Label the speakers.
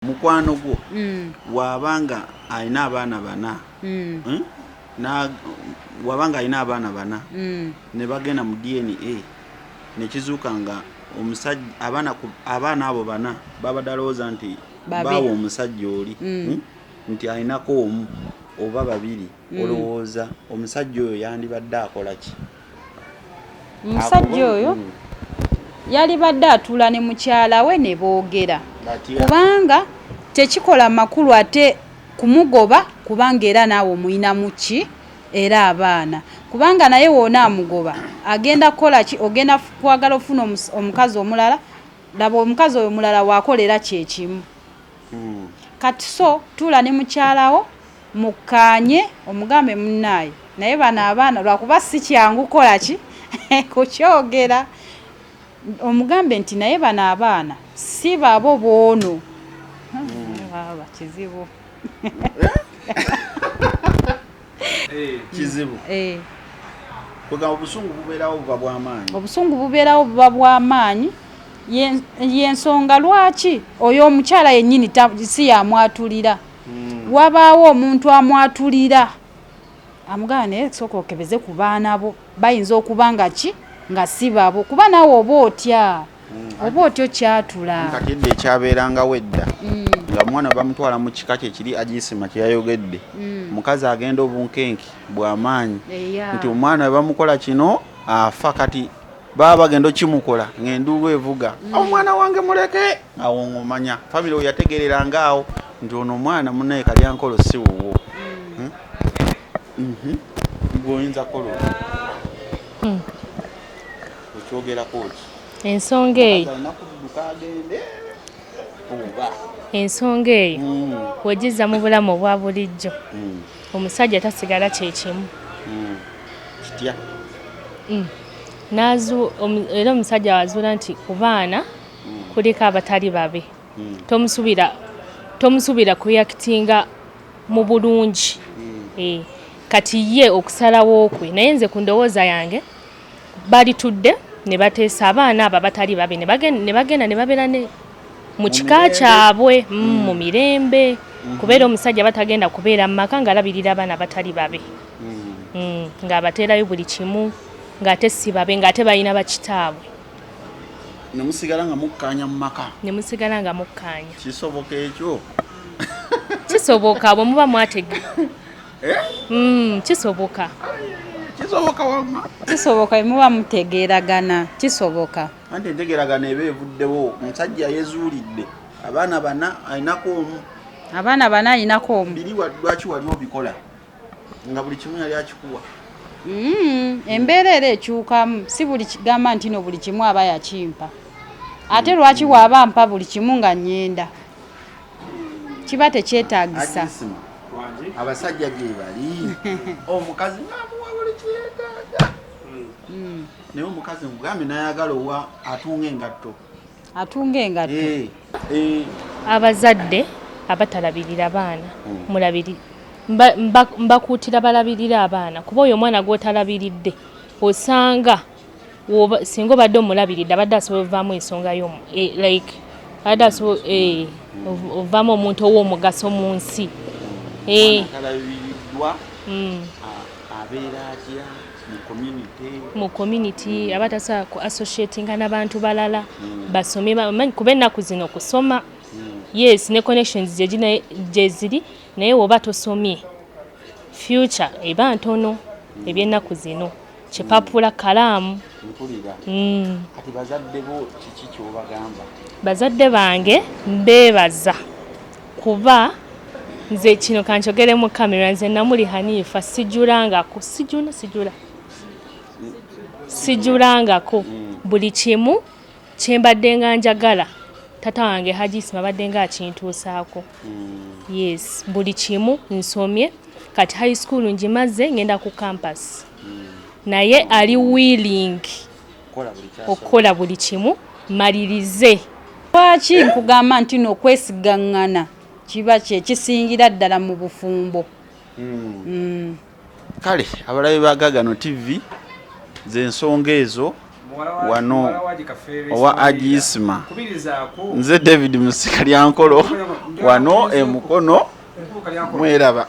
Speaker 1: mukwano gwo mm. wabanga alina abaana bana mm. hmm? wabanga alina abaana bana mm. ne bagenda mu dna nekizuuka nga omusajja abaana abo bana babadde alowooza nti baawa omusajja oli hmm? nti alinako omu oba babiri mm. olowooza omusajja oyo yandibadde akola ki omusajja
Speaker 2: oyo mm. yalibadde atuula ne mukyala we ne boogera kubanga tekikola makulu ate kumugoba kubanga era naawe omuyinamu ki era abaana kubanga naye woona amugoba agenda kukola ki ogenda kwagala ofuna omukazi omulala laba omukazi oyo mulala wakolera kyekimu hmm. kati so tuula ne mukyalawo mukkaanye omugambe munnaaye naye bano abaana lwakuba si kyangu kukola ki kukyogera omugambe nti naye bano abaana si babo boono hmm. kizibu
Speaker 1: Eh, kizibu eh. kwegamba obusungu bubeerawo buba bwamaanyi obusungu bubeerawo
Speaker 2: buba bwamaanyi yensonga lwaki oyo omukyala yennyini si yamwatulira hmm. wabaawo omuntu amwatulira amugana naye sooka okebeze ku baana bo Bayinza okuba nga ki nga si babo kuba naawe oba otya hmm. oba otya okyatula kati edda ekyabeerangawo
Speaker 1: edda hmm. nga omwana bamutwala mu kika kye kiri agisima kye yayogedde hmm. omukazi agenda obunkenke bw'amaanyi nti omwana we bamukola kino afa kati baba bagenda okimukola ng'enduulu evuga omwana wange muleke awo ng'omanya famire we yategereranga awo nti ono omwana munaye kalyankolo si wuwo Mhm. Gwoyinza kola. Hmm. Okyogera koti. Ensonga eyo.
Speaker 3: Ensonga eyo hmm. wegiza mu bulamu obwa bulijjo hmm. omusajja tasigala kyekimu
Speaker 1: kitya
Speaker 3: era omusajja wazuula nti ku baana kuliko abatali babe tomusubira tomusubira kuyakitinga mu bulungi eh, kati ye okusalawo kwe naye nze ku ndowooza yange balitudde ne bateesa abaana abo abatali babe ne bagenda ne babeera ne mu kika kyabwe mm, mm. mu mirembe mm-hmm. kubeera omusajja batagenda kubeera mu maka ng'alabirira abaana abatali babe mm. ng'abateerayo buli kimu ng'ate si babe ng'ate balina bakitaabwe
Speaker 1: ne musigala nga mukkaanya mu maka ne musigala nga mukkaanya
Speaker 3: kisoboka ekyo kisoboka bwe muba mwatega eh? mm, kisoboka kisoboka
Speaker 1: wama kisoboka
Speaker 2: muba mutegeeragana kisoboka anti entegeeragana
Speaker 1: eba evuddewo omusajja yezuulidde abaana bana alinako omu abaana bana alinako omu biri lwaki wali obikola nga buli kimu yali akikuwa mm,
Speaker 2: embeera era ekyukamu si buli kigamba nti no buli kimu aba yakimpa ate mm. lwaki waaba mpa buli kimu nga nyenda kiba tekyetagisa
Speaker 1: abasajja gyebali omukazi namuwa buli kyetaga mm. naye omukazi mugambe nayagala owa atunga engatto atunga engatto eh, eh.
Speaker 3: abazadde abatalabirira baana hmm. mulabiri mbakuutira balabirire abaana kuba oyo omwana gwotalabiridde osanga singa obadde omulabiridde abadde asobola ovaamu ensonga yo e, like abadde asobola e, ovaamu omuntu ow'omugaso mu nsi e. hmm. abeera atya mu community aba tasobola ku associatinga nabantu balala mm. basome bamanyi kuba ennaku zino kusoma mm. yes ne connections gyeziri naye woba tosomye future eba ntono mm. ebyennaku zino kipapula kalaamu
Speaker 1: bazadde
Speaker 3: bange mbeebaza kuba nze kino kanjogere mu kamera nze namuli haniifa sijulangako sijuna sijula sijulangako buli kimu kyembadde nga njagala tata wange hajisima abadde nga akintuusaako hmm. yes buli kimu nsomye kati high school ngimaze ngenda ku campus hmm. naye ali willing okukola buli kimu malirize lwaki
Speaker 2: nkugamba nti no okwesigaŋŋana kiba kyekisingira ddala mu bufumbo hmm. Hmm.
Speaker 1: kale abalabe bagagano tv zensonga ezo wano owa agisma nze david musika lyankolo wano emukono mweraba